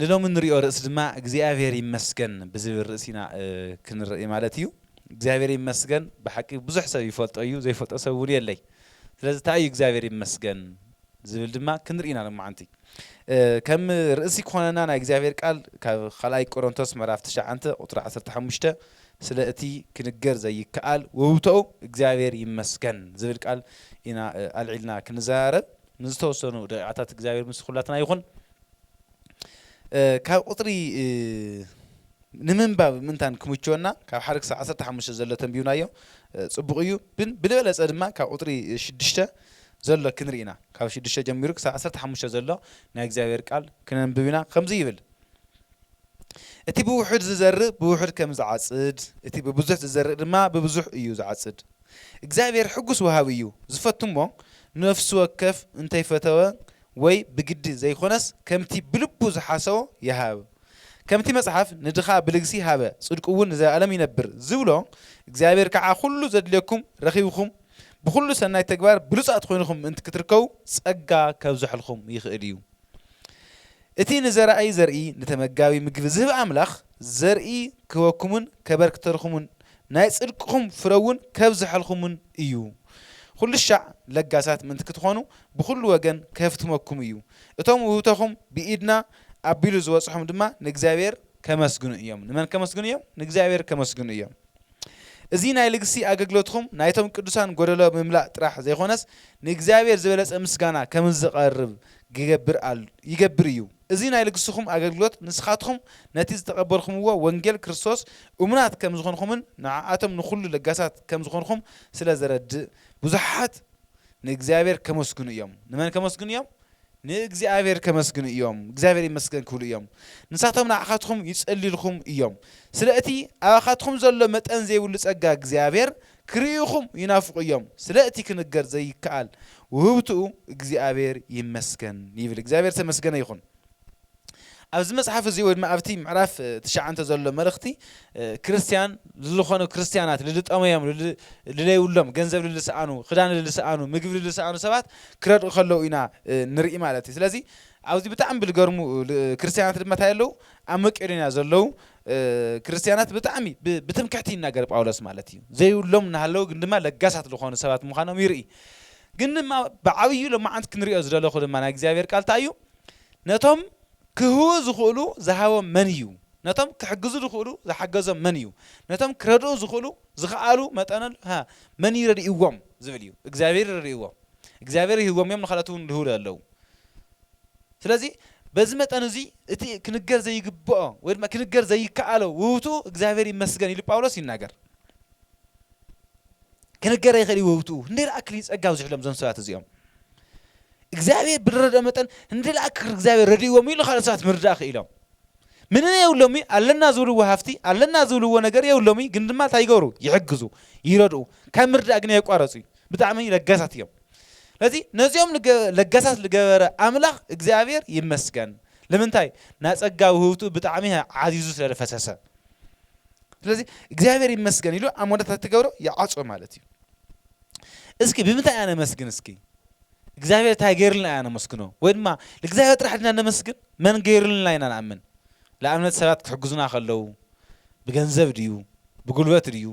ንሎሚ እንሪኦ ርእሲ ድማ እግዚኣብሔር ይመስገን ብዝብል ርእሲ ኢና ክንርኢ ማለት እዩ። እግዚኣብሔር ይመስገን ብሓቂ ብዙሕ ሰብ ይፈልጦ እዩ ዘይፈልጦ ሰብ እውን የለይ። ስለዚ እንታይ እዩ እግዚኣብሔር ይመስገን ዝብል ድማ ክንርኢ ኢና ሎማዓንቲ። ከም ርእሲ ክኾነና ናይ እግዚኣብሔር ቃል ካብ ካልኣይ ቆሮንቶስ ምዕራፍ ትሽዓንተ ቁፅሪ ዓሰርተ ሓሙሽተ ስለ እቲ ክንገር ዘይከኣል ውህብቶኡ እግዚኣብሔር ይመስገን ዝብል ቃል ኢና ኣልዒልና ክንዘራረብ። ንዝተወሰኑ ደቂቃታት እግዚኣብሔር ምስ ኩላትና ይኹን ካብ ቁጽሪ ንምንባብ ምንታን ክምችወና ካብ ሓደ ክሳብ ዓሰርተ ሓሙሽተ ዘሎ ተንቢብናዮ ጽቡቅ እዩ ግን ብልበለጸ ድማ ካብ ቁጽሪ ሽዱሽተ ዘሎ ክንሪኢና ካብ ሽዱሽተ ጀሚሩ ክሳብ ዓሰርተ ሓሙሽተ ዘሎ ናይ እግዚኣብሔር ቃል ክነንብብ ኢና ከምዚ ይብል እቲ ብውሑድ ዚዘርእ ብውሑድ ከም ዚዓጽድ፣ እቲ ብብዙሕ ዚዘርእ ድማ ብብዙሕ እዩ ዚዓጽድ። እግዚኣብሄር ሕጉስ ወሃቢ እዩ፣ ዚፈቱ እሞ፣ ንነፍሱ ወከፍ እንተይፈተወ ወይ ብግዲ ዘይኮነስ ከምቲ ብልቡ ዝሓሰቦ ይሃብ። ከምቲ መጽሓፍ ንድኻ ብልግሲ ሃበ፣ ጽድቁውን ንዘለኣለም ይነብር ዚብሎ፣ እግዚኣብሄር ከኣ ኩሉ ዘድልየኩም ረኺብኩም ብኹሉ ሰናይ ተግባር ብሉጻት ኮይንኩም ምእንቲ ክትርከቡ ጸጋ ከብዘሐልኩም ይኽእል እዩ። እቲ ንዘራኢ ዘርኢ ንተመጋቢ ምግቢ ዝህብ ኣምላኽ፣ ዘርኢ ክህበኩምን ከበርክተልኩምን ናይ ጽድቅኹም ፍረውን ከብዝሐልኩምን እዩ። ኹሉሻዕ ለጋሳት ምእንቲ ክትኾኑ ብኹሉ ወገን ከህፍትመኩም እዩ። እቶም ውህብቶኹም ብኢድና ኣቢሉ ዝበጽሖም ድማ ንእግዚኣብሔር ከመስግኑ እዮም። ንመን ከመስግኑ እዮም? ንእግዚኣብሔር ከመስግኑ እዮም። እዚ ናይ ልግሲ ኣገልግሎትኩም ናይቶም ቅዱሳን ጎደሎ ምምላእ ጥራሕ ዘይኮነስ ንእግዚኣብሔር ዝበለጸ ምስጋና ከምዝቐርብ ክገብር ኣል ይገብር እዩ። እዚ ናይ ልግስኹም ኣገልግሎት ንስኻትኩም ነቲ ዝተቐበልኩምዎ ወንጌል ክርስቶስ እሙናት ከምዝኾንኩምን ንዓኣቶም ንኹሉ ለጋሳት ከምዝኾንኩም ስለዘረድእ ብዙሓት ንእግዚኣብሔር ከመስግኑ እዮም። ንመን ከመስግኑ እዮም? ንእግዚኣብሔር ከመስግኑ እዮም እግዚኣብሔር ይመስገን ክብሉ እዮም ንሳቶም ንዓኻትኹም ይጸልዩልኹም እዮም ስለ እቲ ኣባኻትኹም ዘሎ መጠን ዘይብሉ ጸጋ እግዚኣብሔር ክርእዩኹም ይናፍቁ እዮም ስለ እቲ ክንገር ዘይከኣል ውህብትኡ እግዚኣብሔር ይመስገን ይብል እግዚኣብሔር ዝተመስገነ ይኹን። ኣብዚ መጽሓፍ እዚ ወይ ድማ ኣብቲ ምዕራፍ ትሽዓንተ ዘሎ መልእኽቲ ክርስትያን ልልኾኑ ክርስትያናት ልልጠመዮም ልለይብሎም ገንዘብ ልልሰኣኑ ክዳን ልልሰኣኑ ምግቢ ልልሰኣኑ ሰባት ክረድኡ ከለዉ ኢና ንርኢ ማለት እዩ ስለዚ ኣብዚ ብጣዕሚ ብልገርሙ ክርስትያናት ድማ እንታይ ኣለዉ ኣብ መቄዶንያ ዘለዉ ክርስትያናት ብጣዕሚ ብትምክሕቲ ይናገር ጳውሎስ ማለት እዩ ዘይብሎም እናሃለዉ ግን ድማ ለጋሳት ዝኾኑ ሰባት ምዃኖም ይርኢ ግን ድማ ብዓብዩ ሎማዓንቲ ክንሪኦ ዝደለኹ ድማ ናይ እግዚኣብሔር ቃል እንታይ እዩ ነቶም ኪህውኡ ዚኽእሉ ዝሃቦም መን እዩ? ነቶም ኪሕግዙ ዚኽእሉ ዝሓገዞም መን እዩ? ነቶም ኪረድኡ ዚኽእሉ ዝኸኣሉ መጠንል ሃ መን እዩ ረዲእዎም? ዚብል እዩ። እግዚኣብሄር እዩ ረዲእዎም። እግዚኣብሄር ሂብዎም እዮም፣ ንኻልኦት እውን ልህቡ ኣለዉ። ስለዚ በዚ መጠን እዙይ እቲ ክንገር ዘይግብኦ ወይ ድማ ክንገር ዘይከኣሎ ውህብትኡ እግዚኣብሄር ይመስገን ኢሉ ጳውሎስ ይናገር። ክንገር ኣይኽእል እዩ ውህብትኡ። ክንደይ ዝኣክል እዩ ጸጋ ኣብዚሑሎም እዞም ሰባት እዚኦም። እግዚኣብሔር ብልረድኦ መጠን እንድልኣ ክክር እግዚኣብሔር ረድእዎምዩ ኢሉ ካልኦት ሰባት ምርዳእ ክኢሎም ምንም የብሎምዩ ኣለና ዝብልዎ ሃፍቲ ኣለና ዝብልዎ ነገር የብሎምዩ ግን ድማ እንታይ ይገብሩ ይሕግዙ ይረድኡ ካብ ምርዳእ ግን የቋረጹዩ ብጣዕሚ ለጋሳት እዮም ስለዚ ነዚኦም ለጋሳት ዝገበረ ኣምላኽ እግዚኣብሔር ይመስገን ንምንታይ ናጸጋ ውህብቱ ብጣዕሚ ዓዚዙ ስለ ፈሰሰ ስለዚ እግዚኣብሔር ይመስገን ኢሉ ኣብ መወዳእታ ትገብሮ ይዓጾ ማለት እዩ እስኪ ብምንታይ ኣነመስግን እስኪ እግዚኣብሔር ታይ ገይርልና ኢና ነመስግኖ ወይ ድማ ንእግዚኣብሔር ጥራሕ ድና ነመስግን መን ገይርልና ኢና ንኣምን ንኣብነት ሰባት ክሕግዙና ከለው ብገንዘብ ድዩ ብጉልበት ድዩ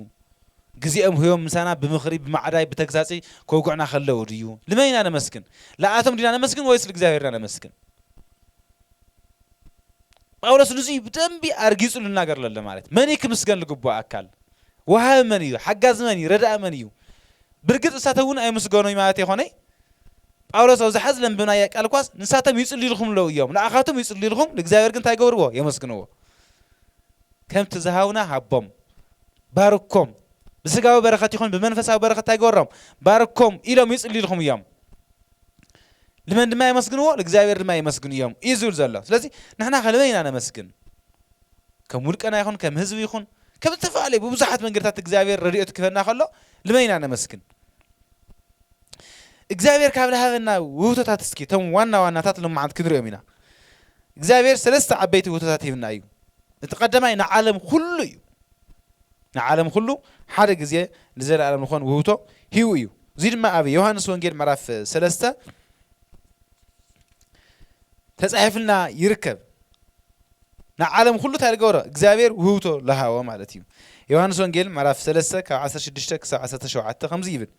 ግዜኦም ህዮም ምሳና ብምኽሪ ብማዕዳይ ብተግሳጺ ከውግዕና ከለው ድዩ ንመን ኢና ነመስግን ልኣቶም ድና ነመስግን ወይስ ልእግዚኣብሔር ኢና ነመስግን ጳውሎስ ንዙይ ብደንቢ ኣርጊጹ ልናገር ለለ ማለት መን እዩ ክምስገን ልግብኦ ኣካል ወሃቢ መን እዩ ሓጋዚ መን እዩ ረዳእ መን እዩ ብርግጽ ንሳቶም እውን ኣይምስገኑይ ማለት ኣይኮነይ፣ ጳውሎስ ኣብ ዝሓ ዝለንብብናያ ቃል እኳስ ንሳቶም ይጽልዩልኹም ኣለዉ እዮም፣ ንኣኻትም ይጽልዩልኹም፣ ንእግዚኣብሔር ግን እንታይ ይገብርዎ? የመስግንዎ። ከምቲ ዝሃቡና ሃቦም፣ ባርኮም፣ ብሥጋዊ በረኸት ይኹን ብመንፈሳዊ በረኸት እንታይ ግበሮም? ባርኮም፣ ኢሎም ይጽልዩልኹም እዮም። ልመን ድማ የመስግንዎ? ንእግዚኣብሔር ድማ የመስግኑ እዮም እዩ ዝብል ዘሎ። ስለዚ ንሕናኸ ልመን ኢና ነመስግን? ከም ውልቀና ይኹን ከም ህዝቢ ይኹን ከም ዝተፈላለዩ ብብዙሓት መንገድታት እግዚኣብሔር ረድኤቱ ክህበና ከሎ ልመን ኢና ነመስግን። እግዚኣብሔር ካብ ዝሃበና ውህብቶታት እስኪ እቶም ዋና ዋናታት ሎማዓንቲ ክንሪኦም ኢና። እግዚኣብሔር ሰለስተ ዓበይቲ ውህብቶታት ሂብና እዩ። እቲ ቀዳማይ ንዓለም ኩሉ እዩ። ንዓለም ኩሉ ሓደ ግዜ ንዘለኣለም ዝኾን ውህብቶ ሂቡ እዩ። እዙይ ድማ ኣብ ዮሃንስ ወንጌል ምዕራፍ ሰለስተ ተጻሒፍልና ይርከብ። ንዓለም ኹሉ እንታይ ልገበሮ እግዚኣብሔር ውህብቶ ልሃቦ ማለት እዩ ዮሐንስ ወንጌል ምዕራፍ ሰለስተ ካብ ዓሰርተ ሽዱሽተ ክሳብ ዓሰርተ ሸውዓተ ከምዚ ይብል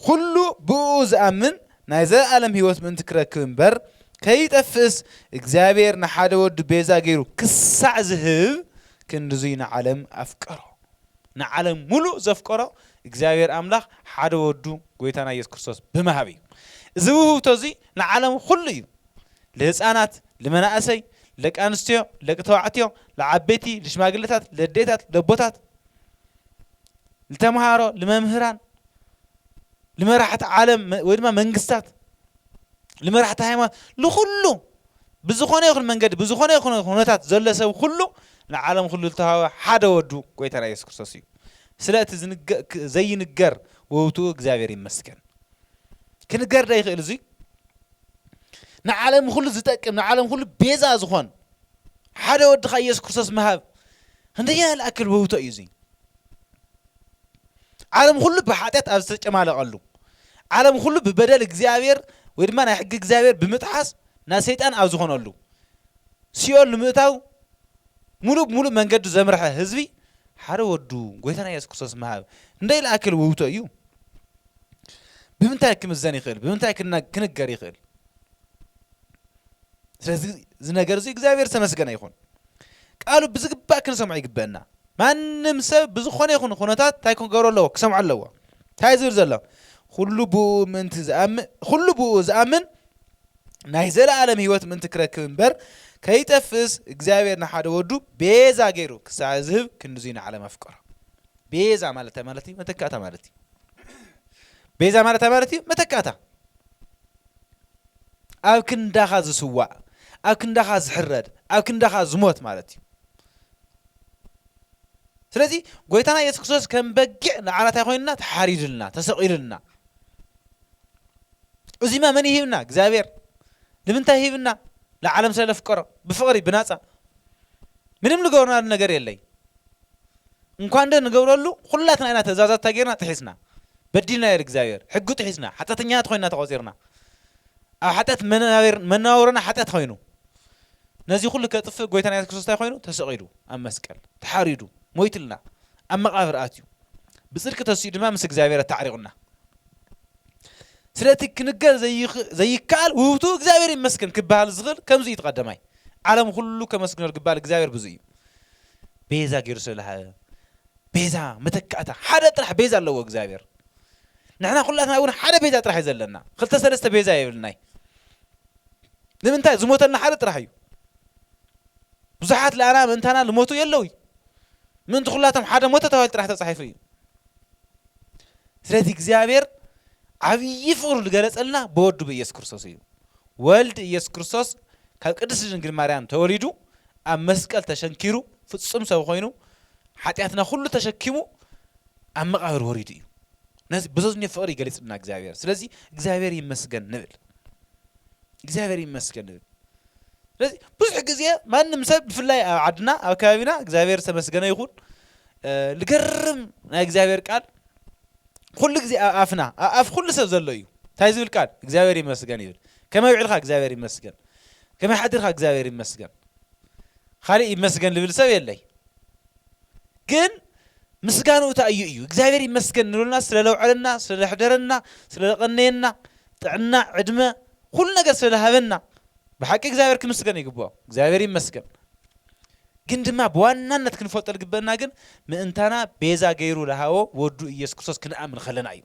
ኩሉ ብእኡ ዝኣምን ናይ ዘለኣለም ህይወት ምእንቲ ክረክብ እምበር ከይጠፍእስ እግዚኣብሔር ንሓደ ወዱ ቤዛ ገይሩ ክሳዕ ዝህብ ክንድዙይ ንዓለም ኣፍቀሮ ንዓለም ሙሉእ ዘፍቀሮ እግዚኣብሔር ኣምላኽ ሓደ ወዱ ጎይታና ኢየሱስ ክርስቶስ ብምሃብ እዩ እዚ ውህብቶ እዙይ ንዓለም ኹሉ እዩ ልህጻናት፣ ልመናእሰይ፣ ልደቂ ኣንስትዮ፣ ልደቂ ተባዕትዮ፣ ልዓበይቲ፣ ልሽማግለታት፣ ልኣዴታት፣ ልኣቦታት፣ ልተምሃሮ፣ ልመምህራን፣ ልመራሕቲ ዓለም ወይ ድማ መንግስታት፣ ልመራሕቲ ሃይማኖት፣ ልኹሉ ብዝኾነ ይኹን መንገዲ ብዝኾነ ይኹን ኩነታት ዘሎ ሰብ ኩሉ ንዓለም ኩሉ ዝተዋህበ ሓደ ወዱ ጎይታና ኢየሱስ ክርስቶስ እዩ። ስለ እቲ ዘይንገር ውህብትኡ እግዚኣብሔር ይመስገን። ክንገር ዶ ይኽእል እዙይ? ንዓለም ኹሉ ዝጠቅም ንዓለም ኹሉ ቤዛ ዝኾን ሓደ ወድኻ ኢየሱስ ክርስቶስ ምሃብ ክንደይ ያልኣክል ውህብቶ እዩ እዙይ ዓለም ኹሉ ብሓጢኣት ኣብ ዝተጨማለቐሉ ዓለም ኹሉ ብበደል እግዚኣብሔር ወይ ድማ ናይ ሕጊ እግዚኣብሔር ብምጥሓስ ናብ ሰይጣን ኣብ ዝኾነሉ ሲኦል ንምእታው ሙሉእ ብሙሉእ መንገዱ ዘምርሐ ህዝቢ ሓደ ወዱ ጎይታና የሱስ ክርስቶስ ምሃብ እንደ ኢልኣክል ውህብቶ እዩ ብምንታይ ክምዘን ይኽእል ብምንታይ ክንገር ይኽእል ስለዚ እዚ ነገር እዚ እግዚኣብሔር ዝተመስገነ ይኹን ቃሉ ብዝግባእ ክንሰምዖ ይግበአና ማንም ሰብ ብዝኾነ ይኹን ኩነታት እንታይ ክገሮ ኣለዎ ክሰምዖ ኣለዎ እንታይ ዝብል ዘሎ ኩሉ ብኡ ምእንቲ ዝኣምን ኩሉ ብኡ ዝኣምን ናይ ዘለኣለም ህይወት ምእንቲ ክረክብ እምበር ከይጠፍእስ እግዚኣብሔር ንሓደ ወዱ ቤዛ ገይሩ ክሳዕ ዝህብ ክንድዙይ ንዓለም ኣፍቀሮ ቤዛ ማለት እንታይ ማለት እዩ? መተካእታ ማለት እዩ። ቤዛ ማለት እንታይ ማለት እዩ? መተካእታ ኣብ ክንዳኻ ዝስዋእ ኣብ ክንዳኻ ዝሕረድ ኣብ ክንዳኻ ዝሞት ማለት እዩ። ስለዚ ጎይታና ኢየሱስ ክርስቶስ ከም በጊዕ ንዓና እንታይ ኮይንና ተሓሪድልና ተሰቒልልና እዚማ መን ይሂብና እግዚኣብሔር ንምንታይ ሂብና ንዓለም ስለ ለፍቀሮ ብፍቕሪ ብናፃ ምንም ልገብርናሉ ነገር የለይ እንኳን ዶ ንገብረሉ ኹላትና ኢና ትእዛዛት እንታይ ጌርና ጥሒስና በዲልና ኢዩ እግዚኣብሔር ሕጊ ጥሒስና ሓጠተኛታት ኾይንና ተቖጺርና ኣብ ሓጢኣት መናቤር መነባብሮና ሓጢኣት ኾይኑ ነዚ ኹሉ ከጥፍእ ጎይታና የሱስ ክርስቶስ እንታይ ኾይኑ ተሰቒሉ ኣብ መስቀል ተሓሪዱ ሞይትልና ኣብ መቓብር ኣትዩ ብጽድቂ ተሲኡ ድማ ምስ እግዚኣብሔር ኣታዕሪቑና ስለቲ ክንገር ዘይከኣል ውህብቱ እግዚኣብሔር ይመስገን ክበሃል ዝኽእል ከምዚ እዩ ተቐደማይ ዓለም ኹሉ ከመስግኖ ዝግባል እግዚኣብሔር ብዙ እዩ ቤዛ ጌሩ ስለ ዝሃበ ቤዛ መተካእታ ሓደ ጥራሕ ቤዛ ኣለዎ እግዚኣብሔር ንሕና ኩላትና እውን ሓደ ቤዛ ጥራሕ እዩ ዘለና ክልተ ሰለስተ ቤዛ የብልናይ ንምንታይ ዝሞተልና ሓደ ጥራሕ እዩ ብዙሓት ለኣና ምእንታና ዝሞቱ የለውይ ምእንቲ ኩላቶም ሓደ ሞተ ተባሂሉ ጥራሕ ተፃሒፉ እዩ ስለዚ እግዚኣብሔር ዓብዪ ፍቅሩ ዝገለፀልና ብወዱ ብኢየሱስ ክርስቶስ እዩ ወልድ ኢየሱስ ክርስቶስ ካብ ቅድስቲ ድንግል ማርያም ተወሊዱ ኣብ መስቀል ተሸንኪሩ ፍጹም ሰብ ኮይኑ ሓጢኣትና ኩሉ ተሸኪሙ ኣብ መቓብር ወሪዱ እዩ ነዚ በዘዝኞ ፍቕሪ ይገሊጽልና እግዚኣብሔር ስለዚ እግዚኣብሔር ይመስገን ንብል እግዚኣብሔር ይመስገን ንብል ስለዚ ብዙሕ ግዜ ማንም ሰብ ብፍላይ ኣብ ዓድና ኣብ ከባቢና እግዚኣብሔር ዝተመስገነ ይኹን ልገርም ናይ እግዚኣብሔር ቃል ኩሉ ግዜ ኣብ ኣፍና ኣብ ኣፍ ኩሉ ሰብ ዘሎ እዩ ታይ ዝብል ቃል እግዚኣብሔር ይመስገን ይብል ከመይ ውዕልካ እግዚኣብሔር ይመስገን ከመይ ሓዲርካ እግዚኣብሔር ይመስገን ካልእ ይመስገን ልብል ሰብ የለይ ግን ምስጋንኡ እንታይ እዩ እዩ እግዚኣብሔር ይመስገን ንብለና ስለ ለውዐለና ስለ ለሕደረና ስለ ለቐነየና ጥዕና ዕድመ ኩሉ ነገር ስለ ለሃበና ብሓቂ እግዚኣብሔር ክምስገን ይግብኦ እግዚኣብሔር ይመስገን ግን ድማ ብዋናነት ክንፈልጦ ልግበእና ግን ምእንታና ቤዛ ገይሩ ልሃቦ ወዱ ኢየሱስ ክርስቶስ ክንኣምን ከለና እዩ።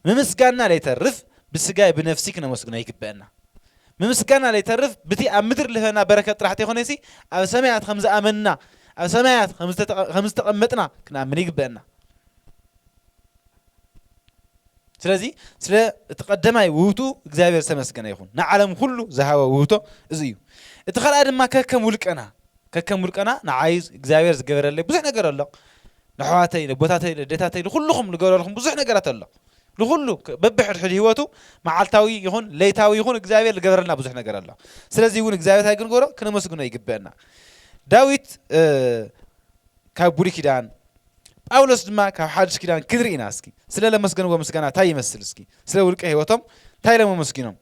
ምምስጋንና ለይተርፍ ብስጋይ ብነፍሲ ክነመስግኖ ይግበእና። ምምስጋንና ለይተርፍ ብቲ ኣብ ምድር ልህበና በረከት ጥራሕ ተይኮነሲ ኣብ ሰማያት ከም ዝኣመንና ኣብ ሰማያት ከም ዝተቀመጥና ክንኣምን ይግበእና። ስለዚ ስለ እቲ ቀደማይ ውህብትኡ እግዚኣብሔር ዝተመስገነ ይኹን ንዓለም ኩሉ ዝሃበ ውህብቶ እዚ እዩ እቲ ካልኣይ ድማ ከከም ውልቀና ከከም ውልቀና ንዓይ እግዚኣብሔር ዝገበረለይ ብዙሕ ነገር ኣሎ ንሕዋተይ ነቦታተይ ለዴታተይ ንኩልኹም ዝገበረልኩም ብዙሕ ነገራት ኣሎ ንኩሉ በብሕድሕድ ህይወቱ መዓልታዊ ይኹን ለይታዊ ይኹን እግዚኣብሔር ዝገበረልና ብዙሕ ነገር ኣሎ ስለዚ እውን እግዚኣብሔር እንታይ ክንገሮ ክነመስግኖ ይግበአና ዳዊት ካብ ብሉይ ኪዳን ጳውሎስ ድማ ካብ ሓድሽ ኪዳን ክንርኢ ኢና እስኪ ስለ ለመስገንዎ ምስጋና ታይ ይመስል እስኪ ስለ ውልቀ ህይወቶም ታይ ኢሎም ኣመስጊኖም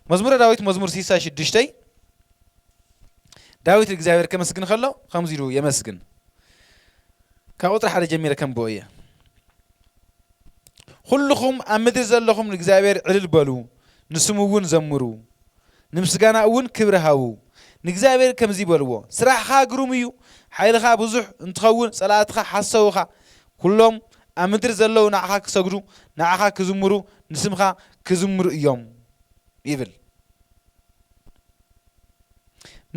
መዝሙረ ዳዊት መዝሙር ሲሳይ ሽዱሽተይ ዳዊት እግዚኣብሔር ከመስግን ከሎ ከምዚ ኢሉ የመስግን ካብ ቁጥሪ ሓደ ጀሚረ ከምብኦ እየ ኩልኹም ኣብ ምድሪ ዘለኹም ንእግዚኣብሔር ዕልል በሉ ንስሙ እውን ዘምሩ ንምስጋና እውን ክብሪ ሃቡ። ንእግዚኣብሔር ከምዚ በልዎ፣ ስራሕኻ ግሩም እዩ፣ ሓይልኻ ብዙሕ እንትኸውን ፀላእትኻ ሓሰውኻ፣ ኵሎም ኣብ ምድሪ ዘለዉ ንዓኻ ክሰግዱ፣ ንዓኻ ክዝምሩ፣ ንስምካ ክዝምሩ እዮም ይብል።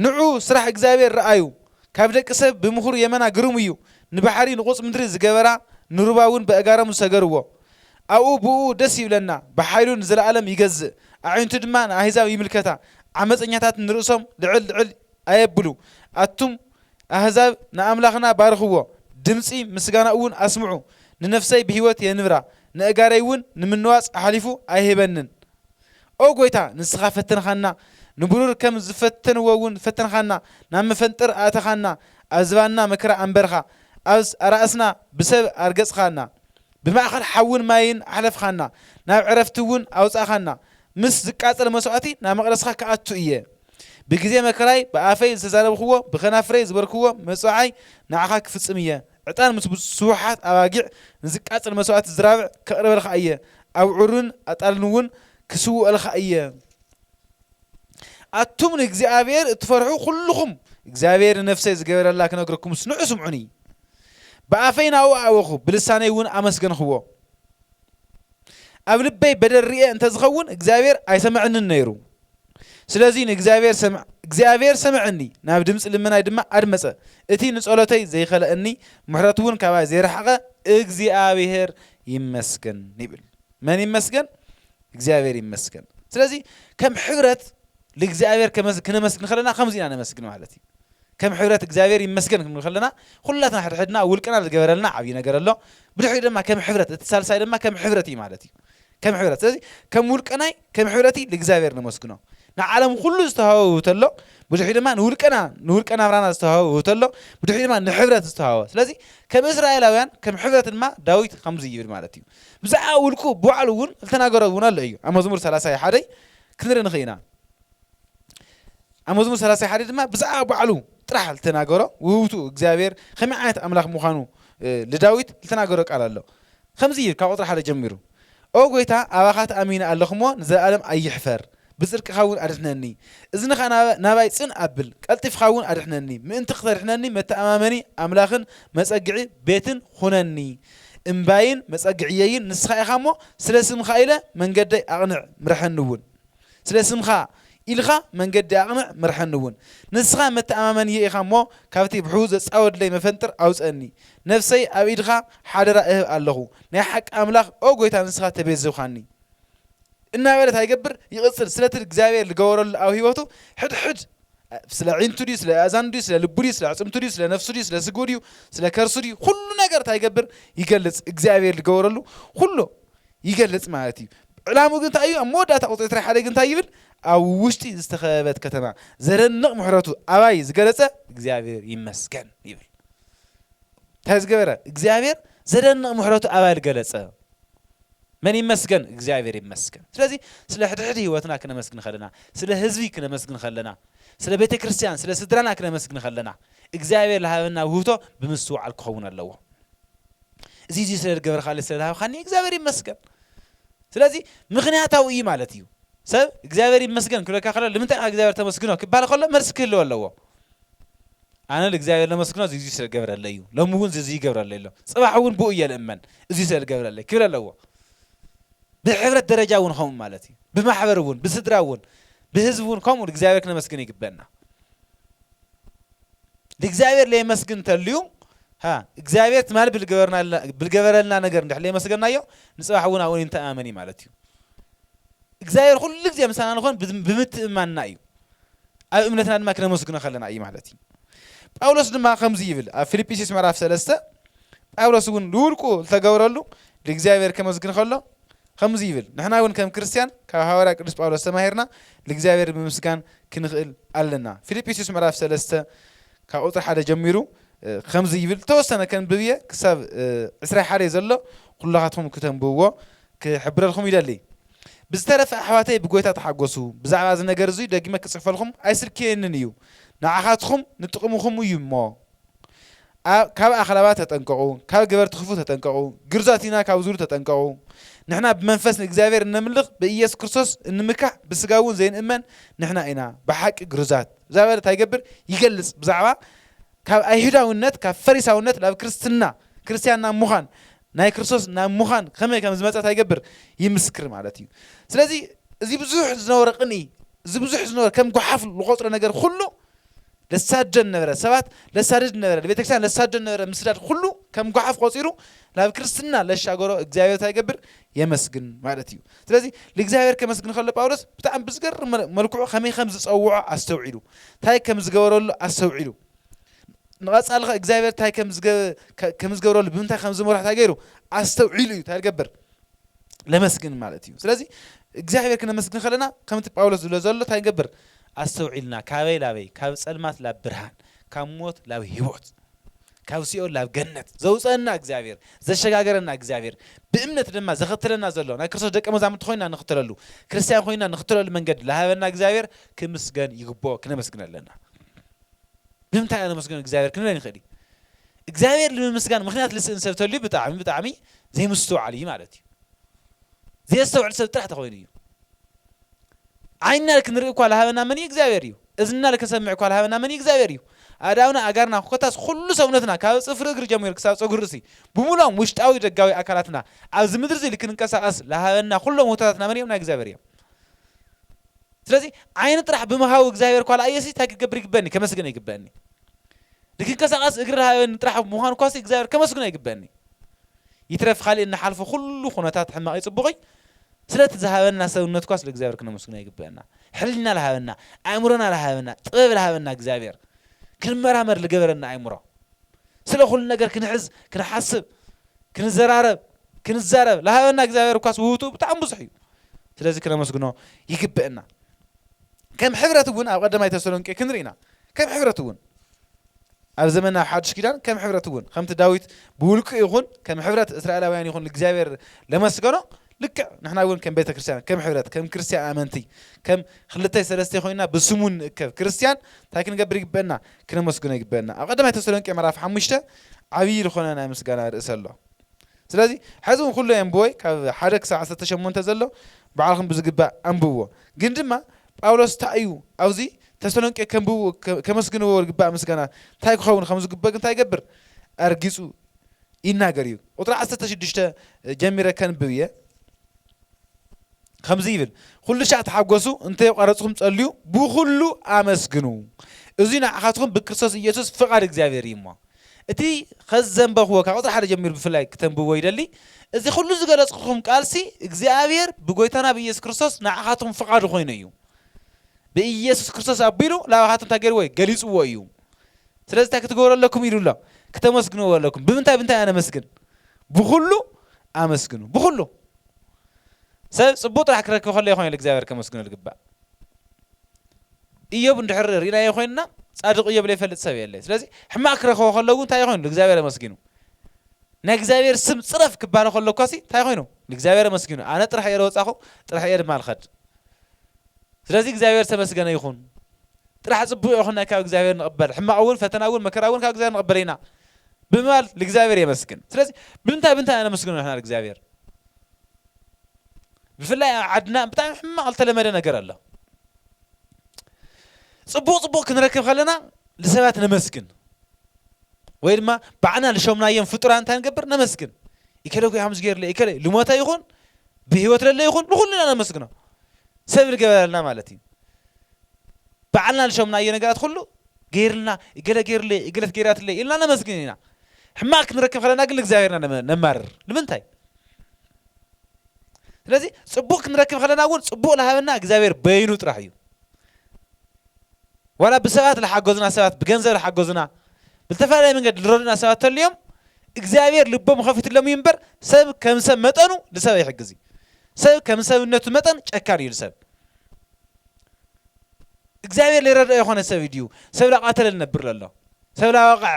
ንዑ ስራሕ እግዚኣብሔር ርኣዩ፣ ካብ ደቂ ሰብ ብምኽሩ የመና ግሩም እዩ፣ ንባሕሪ ንቑፅ ምድሪ ዝገበራ፣ ንሩባ እውን በእጋሮም ዝሰገርዎ፣ ኣብኡ ብእኡ ደስ ይብለና፣ ብሓይሉ ንዘለኣለም ይገዝእ፣ ኣዒንቱ ድማ ንኣህዛብ ይምልከታ፣ ዓመጸኛታት ንርእሶም ልዕል ልዕል ኣየብሉ። ኣቱም ኣህዛብ ንኣምላኽና ባርኽዎ፣ ድምጺ ምስጋናኡውን ኣስምዑ። ንነፍሰይ ብህይወት የንብራ፣ ነእጋረይውን ንምንዋጽ ኣሕሊፉ ኣይህበንን። ኦ ጐይታ፣ ንስኻ ፈተንካና፣ ንብሩር ከም ዝፈተንዎውን ፈተንካና፣ ናብ መፈንጥር ኣእተኻና፣ ኣብ ዝባንና መከራ ኣንበርካ፣ ኣብ ኣራእስና ብሰብ ኣርገጽካና። ብማእከል ሓውን ማይን ኣሕለፍኻና፣ ናብ ዕረፍቲ እውን ኣውጻእኻና፣ ምስ ዚቃጸል መስዋእቲ ናብ መቕደስካ ክኣቱ እየ። ብግዜ መከራይ ብኣፈይ ዝተዛረብክዎ፣ ብከናፍረይ ዝበልክዎ መጽውዓይ ንዓኻ ክፍጽም እየ። ዕጣን ምስ ስቡሓት ኣባጊዕ ንዚቃጸል መስዋእቲ ዝራብዕ ከቕርበልካ እየ፣ ኣብዑርን ኣጣልን እውን ክስውኦልካ እየ። ኣቱም ንእግዚኣብሄር እትፈርሑ ዅልኹም፣ እግዚኣብሄር ንነፍሰይ ዝገበረላ ክነግረኩምስ ንዑ ስምዑኒ። ብኣፈይ ናብኡ ኣእወኹ፣ ብልሳነይ እውን ኣመስገንኽዎ። ኣብ ልበይ በደል ርእየ እንተ ዝኸውን እግዚኣብሔር ኣይሰመዐንን ነይሩ። ስለዙይ ንእግዚኣብሔር ሰመዐኒ፣ ናብ ድምፂ ልመናይ ድማ ኣድመፀ፣ እቲ ንፀሎተይ ዘይኸለእኒ ምሕረቱውን ካባይ ዘይረሓቐ እግዚኣብሔር ይመስገን ይብል። መን ይመስገን? እግዚኣብሔር ይመስገን። ስለዙይ ከም ሕብረት ልእግዚኣብሔር ክነመስግን ከለና ከምዙይ ኢና ነመስግን ማለት እዩ። ከም ሕብረት እግዚኣብሔር ይመስገን ክንብል ከለና ኩላትና ሕድሕድና ውልቅና ዝገበረልና ዓብይ ነገር ኣሎ ብድሕሪኡ ድማ ከም ሕብረት እቲ ሳልሳይ ድማ ከም ሕብረት እዩ ማለት እዩ ከም ሕብረት ስለዚ ከም ውልቀናይ ከም ሕብረቲ ልእግዚኣብሔር ነመስግኖ ንዓለም ኩሉ ዝተሃወ ውህብቶ ኣሎ ብድሕሪኡ ድማ ንውልቀና ንውልቀ ናብራና ዝተሃወ ውህብቶ ኣሎ ብድሕሪኡ ድማ ንሕብረት ዝተሃወ ስለዚ ከም እስራኤላውያን ከም ሕብረት ድማ ዳዊት ከምዚ ይብል ማለት እዩ ብዛዕባ ውልቁ ብባዕሉ እውን ዝተናገሮ እውን ኣሎ እዩ ኣብ መዝሙር 30 ሓደይ ክንርኢ ንኽእል ኢና ኣብ መዝሙር ሰላሳ ሓደ ድማ ብዛዕባ ባዕሉ ጥራሕ ዝተናገሮ ውህብቱ እግዚኣብሔር ከመይ ዓይነት ኣምላኽ ምዃኑ ልዳዊት ዝተናገሮ ቃል ኣሎ ከምዚ ካብ ቁጥሪ ሓደ ጀሚሩ ኦ ጎይታ ኣባኻ ተኣሚነ ኣለኹሞ ንዘለኣለም ኣይሕፈር ብጽድቅኻ እውን ኣድሕነኒ እዝንኻ ናባይ ጽን ኣብል ቀልጢፍኻ እውን ኣድሕነኒ ምእንቲ ክተድሕነኒ መተኣማመኒ ኣምላኽን መጸግዒ ቤትን ኹነኒ እምባይን መጸግዕየይን ንስኻ ኢኻ እሞ ስለ ስምኻ ኢለ መንገደይ ኣቕንዕ ምርሐኒ እውን ስለ ስምካ ኢልካ መንገዲ ኣቕንዕ ምርሐኒውን። ንስኻ መተኣማመኒየይ ኢኻ እሞ ካብቲ ብሕዉ ዘጻወድለይ መፈንጥር ኣውጸእኒ። ነፍሰይ ኣብ ኢድካ ሓደራ እህብ ኣለኹ። ናይ ሓቂ ኣምላኽ ኦ ጎይታ ንስኻ ተቤዝውካኒ። እናበለ ታይ ይገብር ይቕጽል ስለቲ እግዚኣብሔር ልገበረሉ ኣብ ሕይወቱ ሕድሕድ ስለ ኣዒንቱ ድዩ ስለ ኣእዛኑ ድዩ ስለ ልቡ ድዩ ስለ ኣዕጽምቱ ድዩ ስለ ነፍሱ ድዩ ስለ ስግኡ ድዩ ስለ ከርሱ ድዩ ኩሉ ነገር ታይ ይገብር ይገልጽ እግዚኣብሔር ልገበረሉ ኩሉ ይገልጽ ማለት እዩ። ዕላምኡ ግን እንታይ እዩ? ኣብ መወዳእታ ቁጽሪ ዕስራ ሓደ ግን እንታይ ይብል? ኣብ ውሽጢ ዝተኸበበት ከተማ ዘደንቕ ምሕረቱ ኣባይ ዝገለጸ እግዚኣብሔር ይመስገን ይብል። እንታይ ዝገበረ? እግዚኣብሔር ዘደንቕ ምሕረቱ ኣባይ ዝገለጸ መን ይመስገን? እግዚኣብሔር ይመስገን። ስለዚ ስለ ሕድሕድ ህይወትና ክነመስግን ከለና፣ ስለ ህዝቢ ክነመስግን ከለና፣ ስለ ቤተ ክርስቲያን፣ ስለ ስድራና ክነመስግን ከለና እግዚኣብሔር ዝሃበና ውህብቶ ብምስትውዓል ክኸውን ኣለዎ። እዚ እዚ ስለ ዝገበርካለይ ስለ ዝሃብካኒ እግዚኣብሔር ይመስገን ስለዚ ምክንያታዊ እዩ ማለት እዩ ሰብ እግዚኣብሔር ይመስገን ክብለካ ከሎ ንምንታይ ካ እግዚኣብሔር ተመስግኖ ክበሃል ከሎ መልሲ ክህልዎ ኣለዎ ኣነ ንእግዚኣብሔር ለመስግኖ እዚ ስለ ዝገበረለይ እዩ ሎሚ እውን እዚ ይገብረለይ ኣሎ ፅባሕ እውን ብኡ እየ ልእመን እዚ ስለ ዝገብረለይ ክብል ኣለዎ ብሕብረት ደረጃ እውን ከምኡ ማለት እዩ ብማሕበር እውን ብስድራ እውን ብህዝቢ እውን ከምኡ እግዚኣብሔር ክነመስግን ይግበና ልእግዚኣብሔር ለየመስግን እንተልዩ እግዚኣብሔር ትማል ብልገበረልና ነገር እንድሕ ለየመስገናዮ ንፅባሕ እውን ኣብኡ ንተኣማመን እዩ ማለት እዩ እግዚኣብሔር ኩሉ ግዜ ምሳና ንኾን ብምትእማንና እዩ ኣብ እምነትና ድማ ክነመስግኖ ከለና እዩ ማለት እዩ ጳውሎስ ድማ ከምዚ ይብል ኣብ ፊልጵስዩስ ምዕራፍ ሰለስተ ጳውሎስ እውን ልውልቁ ዝተገብረሉ ልእግዚኣብሔር ከመስግን ከሎ ከምዚ ይብል፣ ንሕና እውን ከም ክርስትያን ካብ ሃዋርያ ቅዱስ ጳውሎስ ተማሂርና ልእግዚኣብሔር ብምምስጋን ክንኽእል ኣለና። ፊልጵስዩስ ምዕራፍ ሰለስተ ካብ ቁጽሪ ሓደ ጀሚሩ ከምዚ ይብል፣ ዝተወሰነ ከንብብ እየ ክሳብ ዕስራ ሓደ ዘሎ ኩላኻትኩም ክተንብብዎ ክሕብረልኩም ይደሊ። ብዝተረፈ ኣሕዋተይ ብጎይታ ተሓጎሱ፣ ብዛዕባ እዚ ነገር እዙይ ደጊመ ክጽሕፈልኩም ኣይስልክየንን እዩ፣ ንዓኻትኹም ንጥቕምኹም እዩ እሞ፣ ካብ ኣኽላባት ተጠንቀቑ፣ ካብ ገበርቲ ክፉእ ተጠንቀቑ፣ ግርዙኣት ኢና ካብ ዝብሉ ተጠንቀቑ። ንሕና ብመንፈስ ንእግዚኣብሔር እነምልኽ፣ ብኢየሱስ ክርስቶስ እንምካሕ፣ ብሥጋ'ውን ዘይንእመን ንሕና ኢና፣ ብሓቂ ግርዙኣት። ብዛዕባ እዚ እንታይ ይገብር? ይገልጽ። ብዛዕባ ካብ ኣይሁዳውነት፣ ካብ ፈሪሳውነት ናብ ክርስትና፣ ክርስትያን ናብ ምዃን፣ ናይ ክርስቶስ ናብ ምዃን ከመይ ከም ዝመጸ እንታይ ይገብር? ይምስክር ማለት እዩ። ስለዚ እዚ ብዙሕ ዝነበሮ ቅንኢ፣ እዚ ብዙሕ ዝነበሮ ከም ጓሓፍ ዝቖጽሮ ነገር ኹሉ፣ ለሳድደን ነበረ፣ ሰባት ለሳድድ ነበረ፣ ንቤተክርስቲያን ለሳድደን ነበረ፣ ምስዳድ ኹሉ ከም ጓሓፍ ቆጺሩ ናብ ክርስትና ለሻገሮ እግዚኣብሔር እንታይ ይገብር የመስግን ማለት እዩ። ስለዚ ልእግዚኣብሔር ከመስግን ከሎ ጳውሎስ ብጣዕሚ ብዝገርም መል- መልክዑ ከመይ ከም ዝጸውዖ ኣስተውዒሉ፣ እንታይ ከም ዝገበረሉ ኣስተውዒሉ፣ ንቐጻሊ ኸ እግዚኣብሔር እንታይ ከም ዝገ- ከ- ከም ዝገብረሉ ብምንታይ ከም ዝመርሖ እንታይ ገይሩ ኣስተውዒሉ እዩ እንታይ ዝገብር ነመስግን ማለት እዩ ስለዚ እግዚኣብሔር ክነመስግን ከለና ከምቲ ጳውሎስ ዝብሎ ዘሎ እንታይ ንገብር ኣስተውዒልና ካበይ ላበይ ካብ ጸልማት ላብ ብርሃን ካብ ሞት ላብ ህይወት ካብ ሲኦል ላብ ገነት ዘውፀና እግዚኣብሔር ዘሸጋገረና እግዚኣብሔር ብእምነት ድማ ዘኸትለና ዘሎ ናይ ክርስቶስ ደቀ መዛሙርቲ ኮይና ንኽተለሉ ክርስቲያን ኮይና ንኽተለሉ መንገዲ ዝሃበና እግዚኣብሔር ክምስገን ይግብኦ ክነመስግን ኣለና ብምንታይ ነመስግን እግዚኣብሔር ክንብለን ይኽእል እዩ እግዚኣብሔር ንምምስጋን ምክንያት ልስእን ሰብ ተልዩ ብጣዕሚ ብጣዕሚ ዘይምስትውዓል እዩ ማለት እዩ። ዘየስተውዕል ሰብ ጥራሕ ተኾይኑ እዩ። ዓይንና ልክንርኢ እኳ ልሃበና መን እዩ? እግዚኣብሔር እዩ። እዝንና ልክንሰምዕ እኳ ልሃበና መን እዩ? እግዚኣብሔር እዩ። ኣእዳውና፣ ኣእጋርና፣ ኮታስ ኩሉ ሰውነትና ካብ ጽፍሪ እግሪ ጀሚሩ ክሳብ ጸጉሪ ርእሲ ብምሉኦም ውሽጣዊ ደጋዊ ኣካላትና ኣብዚ ምድሪ እዚ ልክንንቀሳቐስ ልሃበና ኩሎም ውህቶታትና መን እዮም? ናይ እግዚኣብሔር እዮም። ስለዚ ዓይኒ ጥራሕ ብምሃቡ እግዚኣብሔር ኳ ልኣየሲ እንታይ ክገብር ይግበኒ? ከመስግነ ይግበኒ። ንክንቀሳቀስ እግሪ ረሃበኒ ጥራሕ ብምዃኑ እኳሲ እግዚኣብሔር ከመስግኖ ይግበእኒ እዩ። ይትረፍ ካሊእ እንሓልፎ ኩሉ ኩነታት ሕማቅይ ፅቡቅይ ስለቲ ዝሃበና ሰብነት እኳስ ልእግዚኣብሔር ክነመስግኖ ይግበእና። ሕሊና ልሃበና፣ ኣእምሮና ልሃበና፣ ጥበብ ልሃበና እግዚኣብሔር፣ ክንመራመር ልገበረና ኣእምሮ፣ ስለ ኩሉ ነገር ክንሕዝ፣ ክንሓስብ፣ ክንዘራረብ፣ ክንዛረብ ልሃበና እግዚኣብሔር እኳስ ውህብትኡ ብጣዕሚ ብዙሕ እዩ። ስለዚ ክነመስግኖ ይግበእና። ከም ሕብረት እውን ኣብ ቐዳማይ ተሰሎንቄ ክንርኢ ኢና ከም ሕብረት እውን ኣብ ዘመና ኣብ ሓድሽ ኪዳን ከም ሕብረት እውን ከምቲ ዳዊት ብውልቁ ይኹን ከም ሕብረት እስራኤላውያን ይኹን እግዚኣብሔር ለመስገኖ ልክዕ ንሕና እውን ከም ቤተ ክርስቲያን ከም ሕብረት ከም ክርስቲያን ኣመንቲ ከም ክልተይ ሰለስተ ኮይንና ብስሙ ንእከብ ክርስቲያን እንታይ ክንገብር ይግበአና ክነመስግኖ ይግበአና ኣብ ቐዳማይ ተሰሎንቄ ምዕራፍ ሓሙሽተ ዓብዪ ዝኾነ ናይ ምስጋና ርእሰ ኣሎ ስለዚ ሐዚ እውን ኩሉ የንብቦይ ካብ ሓደ ክሳብ ዓሰርተ ሸሞንተ ዘሎ ባዕልኹም ብዝግባእ ኣንብብዎ ግን ድማ ጳውሎስ እንታይ እዩ ኣብዚ ተሰሎንቄ ከንብቡ ከመስግንዎ ዝግባእ ምስጋና እንታይ ክኸውን ከም ዝግበግ እንታይ ይገብር ኣርጊጹ ይናገር እዩ ቁጥሪ ዓሰርተ ሽዱሽተ ጀሚረ ከንብብ እየ ከምዚ ይብል ኹሉሻዕ ተሓጎሱ እንተ የቋረጽኹም ጸልዩ ብኹሉ ኣመስግኑ እዙይ ንዓኻትኹም ብክርስቶስ ኢየሱስ ፍቓድ እግዚኣብሔር እዩ እሞ እቲ ኸዚ ዘንበኽዎ ካብ ቁፅሪ ሓደ ጀሚሩ ብፍላይ ክተንብብዎ ይደሊ እዚ ኹሉ ዝገለጽኹም ቃልሲ እግዚኣብሔር ብጎይታና ብኢየሱስ ክርስቶስ ንዓኻትኹም ፍቓዱ ኮይኑ እዩ ብኢየሱስ ክርስቶስ ኣቢሉ ላባኻትኩም እንታይ ገይርዎ እዩ ገሊጽዎ እዩ ስለዚ እንታይ ክትገብሩ ኣለኩም ኢሉ ኣሎ ክተመስግንዎ ኣለኩም ብምንታይ ብምንታይ ኣነመስግን ብኹሉ ኣመስግኑ ብኹሉ ሰብ ጽቡቕ ጥራሕ ክረክብ ከሎ ኢዩ ንእግዚኣብሄር ከመስግኖ ዝግባእ። እዮብ እንድሕር ርኢናዮ ኮይንና ጻድቕ እዮብ ዘይፈልጥ ሰብ የለን። ስለዚ ሕማቕ ክረኽቦ ከሎ እውን እንታይ ኮይኑ ንእግዚኣብሄር ኣመስጊኑ። ናይ እግዚኣብሄር ስም ጽረፍ ክባሃል ከሎ እኳሲ እንታይ ኮይኑ ንእግዚኣብሄር ኣመስጊኑ። ኣነ ጥራሕ እየ ዝወጻኹ ጥራሕ እየ ድማ ዝኸድ። ስለዚ እግዚኣብሄር ዝተመስገነ ይኹን። ጥራሕ ጽቡቕ ይኹን ካብ እግዚኣብሄር ንቕበል ሕማቕ እውን ፈተና እውን መከራ እውን ካብ እግዚኣብሄር ንቕበል ኢና ብምባል ንእግዚኣብሄር የመስግን። ስለዚ ብምንታይ ብምንታይ ነመስግኖ ንሕና ንእግዚኣብሄር? ብፍላይ ኣብ ዓድና ብጣዕሚ ሕማቕ ዝተለመደ ነገር ኣሎ። ጽቡቕ ጽቡቕ ክንረክብ ከለና ንሰባት ነመስግን ወይ ድማ ባዕልና ልሾምናዮም ፍጡራን እንታይ ንገብር ነመስግን ኢከለ እኮ ከምዚ ገይሩለይ ኢከለ ልሞተ ይኹን ብህይወት ለለ ይኹን ንኹሉ ኢና ነመስግኖ ሰብ ንገበረልና ማለት እዩ ባዕልና ልሾምናዮ ነገራት ኩሉ ገይርልና እገለ ገይሩለይ እገለት ገይራትለይ ኢልና ነመስግን ኢና ሕማቅ ክንረክብ ከለና ግን ንእግዚኣብሔርና ነማርር ንምንታይ ስለዚ ጽቡቅ ክንረክብ ከለና እውን ጽቡቅ ልሃበና እግዚኣብሔር በይኑ ጥራሕ እዩ ዋላ ብሰባት ልሓገዙና ሰባት ብገንዘብ ልሓገዙና ብዝተፈላለየ መንገድ ልረዱና ሰባት ተልዮም እግዚኣብሔር ልቦም ኸፊትሎም እዩ እምበር ሰብ ከም ሰብ መጠኑ ልሰብ ኣይሕግዝ እዩ ሰብ ከም ሰብነቱ መጠን ጨካን እዩ ልሰብ እግዚኣብሔር ሊረድኦ የኾነ ሰብ ድዩ ሰብ ላቃተለ ልነብር ለሎ ሰብ ላወቀዐ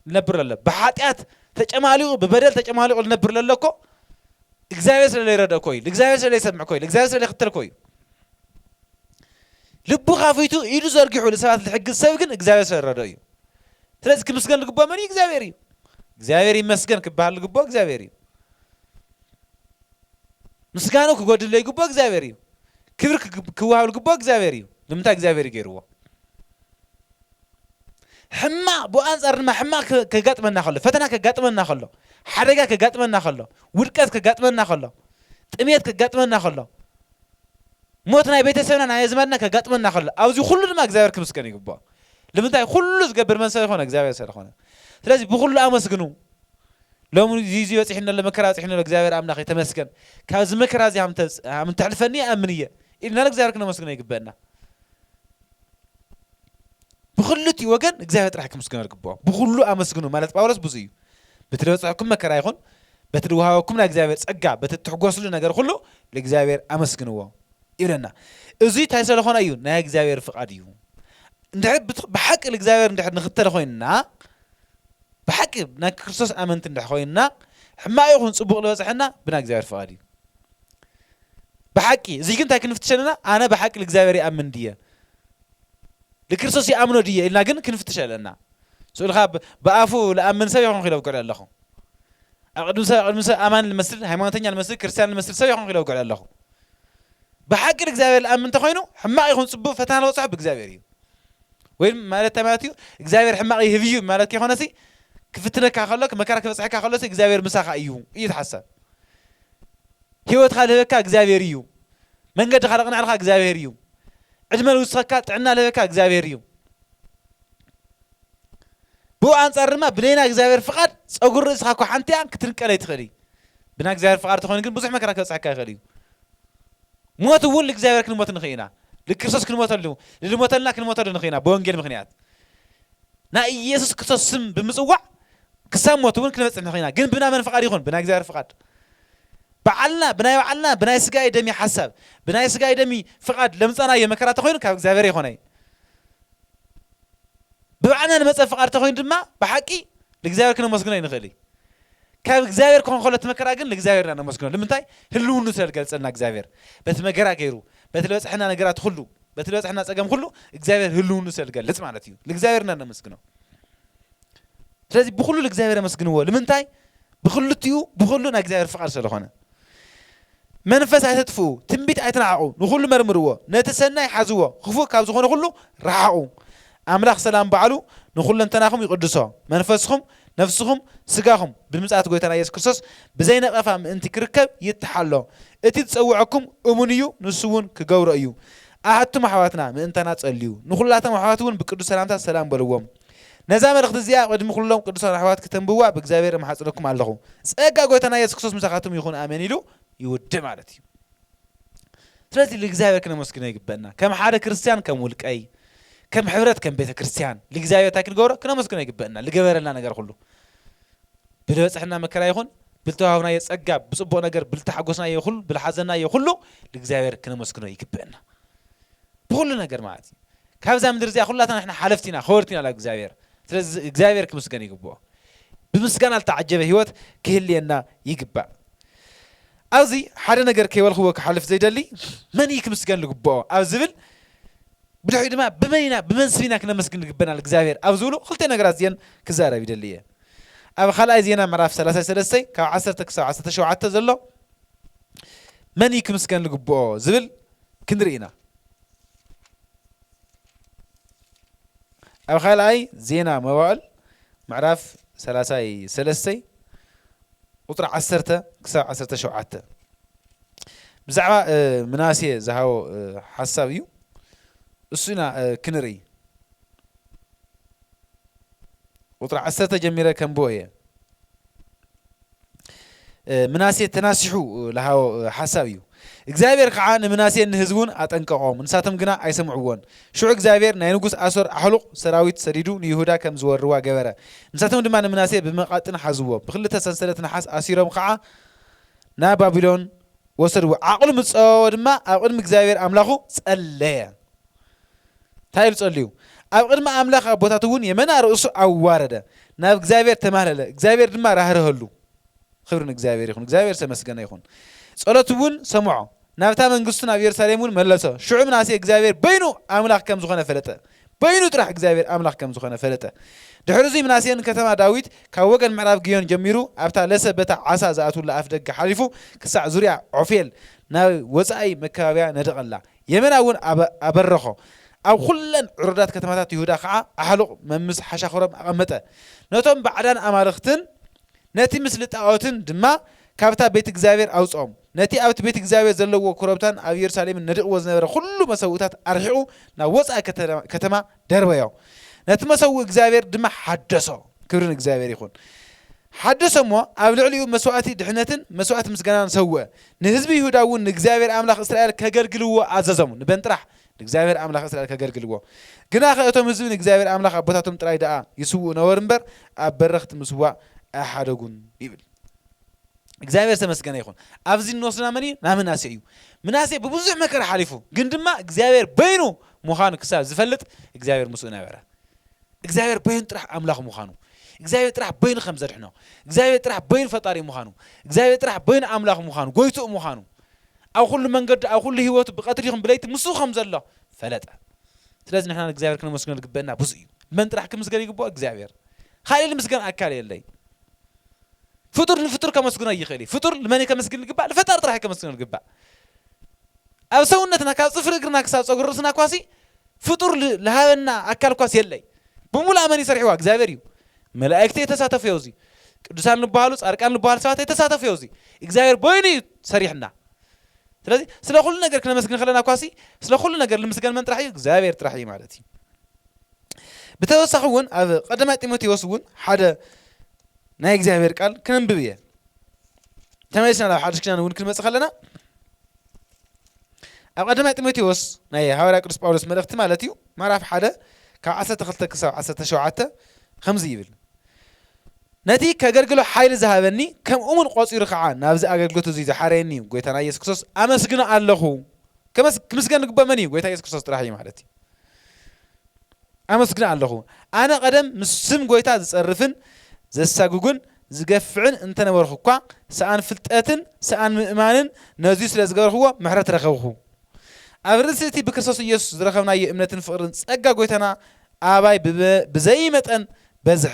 ልነብር ለሎ ብሓጢኣት ተጨማሊቑ ብበደል ተጨማሊቑ ልነብር ለሎ እኮ እግዚኣብሔር ስለ ለይረድኦ ኮዩ እግዚኣብሔር ስለ ለይሰምዕ ኮዩ እግዚኣብሔር ስለ ለይክተል ኮዩ ልቡ ካፊቱ ኢዱ ዘርጊሑ ንሰባት ልሕግዝ ሰብ ግን እግዚኣብሔር ስለ ዝረድኦ እዩ ስለዚ ክምስገን ልግቦ መን እዩ እግዚኣብሔር እዩ እግዚኣብሔር ይመስገን ክበሃል ልግቦ እግዚኣብሔር እዩ ምስጋኑ ክጎድል ለይግቦ እግዚኣብሔር እዩ ክብሪ ክወሃብ ዝግብኦ እግዚኣብሔር እዩ ንምንታይ እግዚኣብሔር እዩ ገይርዎ ሕማቅ ብኣንጻር ድማ ሕማቅ ከጋጥመና ከሎ ፈተና ከጋጥመና ከሎ ሓደጋ ከጋጥመና ከሎ ውድቀት ከጋጥመና ከሎ ጥሜት ከጋጥመና ከሎ ሞት ናይ ቤተሰብና ናይ ኣዝማድና ከጋጥመና ከሎ ኣብዚ ኩሉ ድማ እግዚኣብሔር ክምስገን ይግብኦ ንምንታይ ኩሉ ዝገብር መን ሰብ ይኮነ እግዚኣብሔር ስለዝኮነ ስለዚ ብኩሉ ኣመስግኑ ሎሚ ዚዚ በጺሕኒ ኣሎ መከራ በጺሕኒ ኣሎ እግዚኣብሔር ኣምላኸይ ተመስገን ካብዚ መከራ እዚ ሃም እተሕልፈኒ ይኣምን እየ ኢልና ንእግዚኣብሔር ክነመስግኖ ይግበእና ብክልቲኡ ወገን እግዚኣብሔር ጥራሕ ክምስግኖ ዝግብኦ ብኩሉ ኣመስግኑ ማለት ጳውሎስ ብዙ እዩ በቲ ዝበጽሐኩም መከራ ይኹን በቲ ዝወሃበኩም ናይ እግዚኣብሔር ጸጋ በቲ እትሕጎስሉ ነገር ኩሉ ንእግዚኣብሔር ኣመስግንዎ ይብለና እዙይ እንታይ ስለኾነ እዩ ናይ እግዚኣብሔር ፍቓድ እዩ እንድሕር ብሓቂ እግዚኣብሔር እንድሕር ንክተል ኮይንና ብሓቂ ናይ ክርስቶስ ኣመንቲ እንድሕር ኮይንና ሕማቅ ይኹን ጽቡቅ ልበጽሐና ብናይ እግዚኣብሔር ፍቃድ እዩ ብሓቂ እዚ ግን እንታይ ክንፍትሽ ኣለና ኣነ ብሓቂ ልእግዚኣብሔር ይኣምን ድየ ልክርስቶስ ይኣምኖ ድየ ኢልና ግን ክንፍትሽ ኣለና ስኡልካ ብኣፉ ልኣምን ሰብ ይኹን ክኢለ ብግዕለ ኣለኹ ኣብ ቅድሚ ሰብ ቅድሚ ሰብ ኣማኒ ልመስል ሃይማኖተኛ ልመስል ክርስትያን ልመስል ሰብ ይኹን ክኢለ ብግዕለ ኣለኹ ብሓቂ ልእግዚኣብሔር ልኣምን እንተኮይኑ ሕማቅ ይኹን ጽቡቅ ፈተና ልበጽሖ ብእግዚኣብሔር እዩ ወይ ማለት እንታይ ማለት እዩ እግዚኣብሔር ሕማቕ ይህብ እዩ ማለት ከይኮነሲ ክፍትነካ ከሎ መከራ ክበፅሐካ ከሎሲ እግዚኣብሔር ምሳኻ እዩ እዩ ትሓሳብ ህይወትካ ልህበካ እግዚኣብሔር እዩ መንገድኻ ለቕንዕልካ እግዚኣብሔር እዩ ዕድመ ልውስኸካ ጥዕና ልህበካ እግዚኣብሔር እዩ ብኡ ኣንጻር ድማ ብናይና እግዚኣብሔር ፍቓድ ፀጉሪ ርእስኻ እኳ ሓንቲ ክትንቀለይ ትኽእል እዩ ብና እግዚኣብሔር ፍቓድ ተኾይኑ ግን ብዙሕ መከራ ክበፅሐካ ይኽእል እዩ ሞት እውን ልእግዚኣብሔር ክንሞት ንኽእ ኢና ልክርስቶስ ክንሞተሉ ልልሞተልና ክንሞተሉ ንኽእ ኢና ብወንጌል ምኽንያት ናይ ኢየሱስ ክርስቶስ ስም ብምጽዋዕ ክሳብ ሞት እውን ክንበጽሕ ንኽእ ኢና ግን ብና መን ፍቓድ ይኹን ብናይ እግዚኣብሔር ፍቓድ በዓልና ብናይ በዓልና ብናይ ስጋይ ደሚ ሓሳብ ብናይ ስጋይ ደሚ ፍቓድ ለምጻናዮ መከራ ተኾይኑ ካብ እግዚኣብሔር ይኾነይ ብበዓልና ንመጸ ፍቓድ ተኾይኑ ድማ ብሓቂ ልእግዚኣብሔር ክነመስግኖ ይንኽእል እዩ ካብ እግዚኣብሔር ክኾን ከሎ እቲ መከራ ግን ንእግዚኣብሔር ኢና ነመስግኖ ልምንታይ ህልውኑ ስለ ዝገልጸልና እግዚኣብሔር በቲ መገራ ገይሩ በቲ ልበጽሐና ነገራት ኩሉ በቲ ልበጽሐና ጸገም ኩሉ እግዚኣብሔር ህልውኑ ስለ ዝገልጽ ማለት እዩ ልእግዚኣብሔር ኢና ነመስግኖ ስለዚ ብኩሉ ልእግዚኣብሔር ኣመስግንዎ ልምንታይ ብክልቲኡ ብኩሉ ናይ እግዚኣብሔር ፍቃድ ስለ ዝኾነ መንፈስ ኣይተጥፍኡ፣ ትንቢት ኣይትንዓቑ፣ ንኹሉ መርምርዎ፣ ነቲ ሰናይ ሓዝዎ፣ ኽፉእ ካብ ዝኾነ ኹሉ ረሓቑ። ኣምላኽ ሰላም ባዕሉ ንኹለንተናኹም ይቕድሶ፣ መንፈስኹም፣ ነፍስኹም፣ ስጋኹም ብምጽኣት ጎይታና ኢየሱስ ክርስቶስ ብዘይ ነቐፋ ምእንቲ ኪርከብ ይተሓሎ። እቲ ዝጸውዐኩም እሙን እዩ፣ ንሱውን ኪገብሮ እዩ። ኣቱም ኣሕዋትና ምእንታና ጸልዩ። ንኹላቶም ኣሕዋትውን ብቅዱስ ሰላምታ ሰላም በልዎም። ነዛ መልእኽቲ እዚኣ ቅድሚ ኩሎም ቅዱሳን ኣሕዋት ክተንብብዋ ብእግዚኣብሔር እምሓጽነኩም ኣለኹ። ጸጋ ጎይታና የሱስ ክርስቶስ ምሳኻትኩም ይኹን ኣሜን ኢሉ ይውድእ ማለት እዩ። ስለዚ ልእግዚኣብሔር ክነመስግኖ ይግበእና። ከም ሓደ ክርስትያን ከም ውልቀይ ከም ሕብረት ከም ቤተ ክርስትያን ልእግዚኣብሔር እንታይ ክንገብሮ ክነመስግኖ ይግበእና ልገበረልና ነገር ኩሉ ብልበጽሕና መከራ ይኹን ብልተዋህብናዮ ጸጋ ብጽቡቕ ነገር ብልተሓጎስናዮ ኩሉ ብልሓዘናዮ ኩሉ ልእግዚኣብሔር ክነመስግኖ ይግበእና። ብኹሉ ነገር ማለት እዩ ካብዛ ምድሪ እዚኣ ኩላትና ንሕና ሓለፍቲ ኢና ከወርቲ ኢና ላብ እግዚኣብሔር ስለዚ እግዚኣብሔር ክምስገን ይግብኦ ብምስጋና ልተዓጀበ ህይወት ክህልየና ይግባእ ኣብዚ ሓደ ነገር ከይበልክዎ ክሓልፍ ዘይደሊ መን እዩ ክምስገን ልግብኦ ኣብ ዝብል ብድሕሪኡ ድማ ብመን ኢና ብመን ስቢና ክነመስግን ልግበናል እግዚኣብሔር ኣብ ዝብሉ ክልተ ነገራት እዚአን ክዛረብ ይደሊ እየ ኣብ ካልኣይ ዜና ምዕራፍ 33 ካብ 1 ክሳብ 17 ዘሎ መን እዩ ክምስገን ዝግብኦ ዝብል ክንርኢ ኢና። ኣብ ካልኣይ ዜና መዋዕል ምዕራፍ ሰላሳይ ሰለስተይ ቁፅሪ ዓሰርተ ክሳብ ዓሰርተ ሸውዓተ ብዛዕባ ምናሴ ዝሃቦ ሓሳብ እዩ እሱ ኢና ክንርኢ ቁፅሪ ዓሰርተ ጀሚረ ከንብቦ እየ ምናሴ ተናሲሑ ለሃቦ ሓሳብ እዩ። እግዚኣብሔር ከዓ ንምናሴን ንህዝቡን ኣጠንቀቖም፣ ንሳቶም ግና ኣይሰምዕዎን። ሽዑ እግዚኣብሔር ናይ ንጉሥ ኣሶር ኣሕሉቕ ሰራዊት ሰዲዱ ንይሁዳ ከም ዝወርዋ ገበረ። ንሳቶም ድማ ንምናሴ ብመቓጥን ሓዝዎ፣ ብኽልተ ሰንሰለት ነሓስ ኣሲሮም ከዓ ናብ ባቢሎን ወሰድዎ። ዓቕሉ ምስ ጸበቦ ድማ ኣብ ቅድሚ እግዚኣብሔር ኣምላኹ ጸለየ። ታይ ኢሉ ጸልዩ ኣብ ቕድሚ ኣምላኽ ኣቦታቱ እውን የመና ርእሱ ኣዋረደ ናብ እግዚኣብሔር ተማህለለ እግዚኣብሔር ድማ ራህርሀሉ ኽብሪ ንእግዚኣብሔር ይኹን እግዚኣብሔር ዝተመስገነ ይኹን ጸሎቱ እውን ሰምዖ ናብታ መንግስቱ ናብ ኢየሩሳሌም እውን መለሶ ሽዑ ምናሴ እግዚኣብሔር በይኑ ኣምላኽ ከም ዝኾነ ፈለጠ በይኑ ጥራሕ እግዚኣብሔር ኣምላኽ ከም ዝኾነ ፈለጠ ድሕሪ እዙይ ምናሴ ንከተማ ዳዊት ካብ ወገን ምዕራብ ግዮን ጀሚሩ ኣብታ ለሰ በታ ዓሳ ዝኣትውላ ኣፍ ደገ ሓሊፉ ክሳዕ ዙርያ ዖፌል ናብ ወጻኢ መከባብያ ነደቐላ የመና እውን ኣበረኾ፣ ኣብ ዅለን ዕሩዳት ከተማታት ይሁዳ ኸዓ ኣሕሉቕ መምስ ሓሻኽሮም ኣቐመጠ፣ ነቶም ባዕዳን ኣማልኽትን ነቲ ምስሊ ጣዖትን ድማ ካብታ ቤት እግዚኣብሄር ኣውጽኦም፣ ነቲ ኣብቲ ቤት እግዚኣብሄር ዘለዎ ኵረብታን ኣብ የሩሳሌምን ነዲቕዎ ዝነበረ ዅሉ መሰውእታት ኣርሒቑ ናብ ወጻኢ ከተማ ደርበዮ ነቲ መሰውኢ እግዚኣብሔር ድማ ሓደሶ ክብሪ ንእግዚኣብሔር ይኹን ሓደሶ እሞ ኣብ ልዕሊኡ መስዋእቲ ድሕነትን መስዋእቲ ምስጋናን ሰውእ ንህዝቢ ይሁዳ እውን ንእግዚኣብሔር ኣምላኽ እስራኤል ከገልግልዎ ኣዘዞም ንበን ጥራሕ ንእግዚኣብሔር ኣምላኽ እስራኤል ከገልግልዎ ግና ከ እቶም ህዝቢ ንእግዚኣብሔር ኣምላኽ ኣቦታቶም ጥራይ ደኣ ይስውኡ ነበሩ እምበር ኣብ በረኽቲ ምስዋእ ኣይሓደጉን ይብል እግዚኣብሔር ዝተመስገነ ይኹን ኣብዚ እንወስድና መን እዩ ናምናሴ እዩ ምናሴ ብብዙሕ መከራ ሓሊፉ ግን ድማ እግዚኣብሔር በይኑ ምዃኑ ክሳብ ዝፈልጥ እግዚኣብሔር ምስኡ ነበረ እግዚኣብሔር በይኑ ጥራሕ ኣምላኽ ምዃኑ እግዚኣብሔር ጥራሕ በይኑ ከም ዘድሕኖ እግዚኣብሔር ጥራሕ በይኑ ፈጣሪ ምዃኑ እግዚኣብሔር ጥራሕ በይኑ ኣምላኽ ምዃኑ ጎይትኡ ምዃኑ ኣብ ኩሉ መንገዲ ኣብ ኩሉ ህይወቱ ብቀትሪ ይኹን ብለይቲ ምስኡ ከም ዘሎ ፈለጠ ስለዚ ንሕና ንእግዚኣብሔር ክነመስግኖ ዝግበአና ብዙ እዩ መን ጥራሕ ክምስገን ይግብኦ እግዚኣብሔር ካልእ ልምስገን ኣካል የለይ ፍጡር ንፍጡር ከመስግኖ ኣይኽእል እዩ። ፍጡር ንመን እዩ ከምስግን ዝግባእ? ንፈጣሪ ጥራሕ እዩ ከመስግኖ ዝግባእ። ኣብ ሰውነትና ካብ ጽፍሪ እግርና ክሳብ ጸጉሪ ርእስና እኳሲ ፍጡር ዝሃበና ኣካል እኳስ የለይ። ብምሉኣ መን እዩ ሰሪሕዋ? እግዚኣብሔር እዩ። መላእክቲ ኣይተሳተፉ ዮዚ። ቅዱሳን ዝበሃሉ ጻድቃን ዝበሃሉ ሰባት ኣይተሳተፉ ዮዚ። እግዚኣብሔር በይኑ እዩ ሰሪሕና። ስለዚ ስለ ኩሉ ነገር ክነመስግን ከለና እኳሲ ስለ ኩሉ ነገር ዝምስገን መን ጥራሕ እዩ? እግዚኣብሔር ጥራሕ እዩ ማለት እዩ። ብተወሳኺ እውን ኣብ ቀዳማይ ጢሞቴዎስ እውን ሓደ ናይ እግዚኣብሔር ቃል ክንንብብ እየ ተመሊስና ናብ ሓድሽ ኪዳን እውን ክንመፅእ ከለና ኣብ ቀዳማይ ጢሞቴዎስ ናይ ሃዋርያ ቅዱስ ጳውሎስ መልእኽቲ ማለት እዩ ምዕራፍ ሓደ ካብ ዓሰርተ ክልተ ክሳብ ዓሰርተ ሸውዓተ ከምዚ ይብል ነቲ ከገልግሎ ሓይሊ ዝሃበኒ ከም እሙን ቆፂሩ ከዓ ናብዚ ኣገልግሎት እዙይ ዝሓረየኒ እዩ ጎይታና ኢየሱስ ክርስቶስ ኣመስግኖ ኣለኹ ክምስገን ዝግባእ መን እዩ ጎይታ ኢየሱስ ክርስቶስ ጥራሕ እዩ ማለት እዩ ኣመስግን ኣሎኹ። ኣነ ቐደም ምስ ስም ጐይታ ዝጸርፍን ዘሳጕግን ዝገፍዕን እንተ ነበርኹ እኳ፣ ሰኣን ፍልጠትን ሰኣን ምእማንን ነዙይ ስለ ዝገበርክዎ ምሕረት ረኸብኩ። ኣብ ርእሲ እቲ ብክርስቶስ ኢየሱስ ዝረኸብናዮ እምነትን ፍቕርን ጸጋ ጐይታና ኣባይ ብዘይ መጠን በዝሐ።